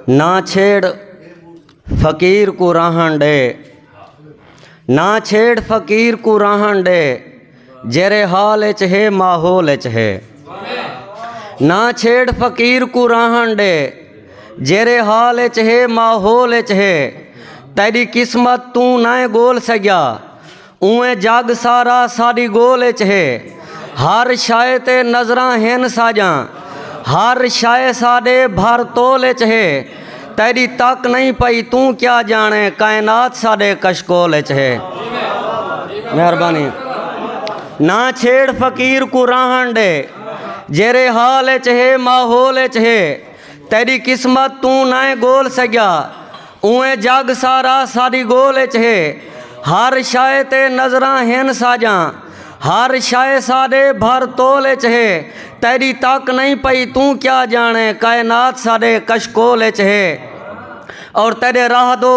نہ چھیڑ فقیر کوں راہݨ ݙے نہ چھیڑ فقیر کوں راہݨ ݙے جیرھے حال اچ ہے ماحول اچ ہے نہ چھیڑ فقیر کوں راہݨ ݙے جیرھے حال اچ ہے ماحول اچ ہے تیݙی قسمت توں نائیں ڳول سڳیا اونویں جگ سارا ساݙی ڳول اچ ہے ہر شئے تے نظراں ہن ساڄاں ہر شئے ساݙے بھر تول اچ ہے تیݙی تک نئیں پئی توں کیا ڄاݨیں کائنات ساݙے کشکول اچ ہے مہربانی نہ چھیڑ فقیر کوں راہݨ ݙے جیرھے حال اچ ہے ماحول اچ ہے تیݙی قسمت توں نئیں ڳول سڳیا اونویں جڳ سارا ساݙی ڳول اچ ہے ہر شئے تے نظراں ہن ساڄاں ہر شئے ساݙے بھر تول اچ ہے تیݙی تک نئیں پئی توں کیا ڄاݨیں کائنات ساݙے کشکول اچ ہے اور تیݙے راہ دو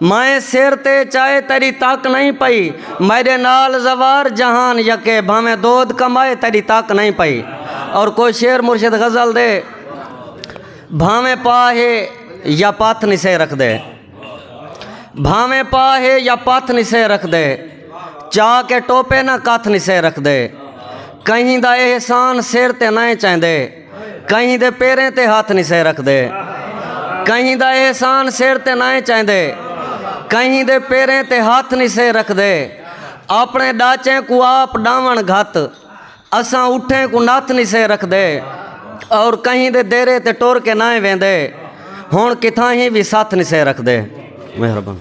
مائیں سر تے چائے تیݙی تک نئیں پئی میݙے نال زوار جہان یکے بھانویں دود کمائے تیݙی تک نئیں پئی اور کوئی شعر مرشد غزل دے بھانویں پا ہے یا پتھ نسے رکھ دے بھانویں پا ہے یا پتھ نسے رکھ دے چا کے ٹوپے نہ کتھ نسے رکھ دے کہیں دا احسان سر تے نئیں چیندے کہیں دے پیریں تے ہتھ نسے رکھدے کہیں دا احسان سر تے نائیں چاہندے کہیں دے پیریں تے ہتھ نسے رکھدے اپنے ڈاچیں کو آپ ڈاون گھت اساں اٹھیں کو نتھ نسے رکھدے اور کہیں دے دیرے تے ٹر کے نائیں ویندے ہن کتھاں ہی وی ستھ نسے رکھدے مہربان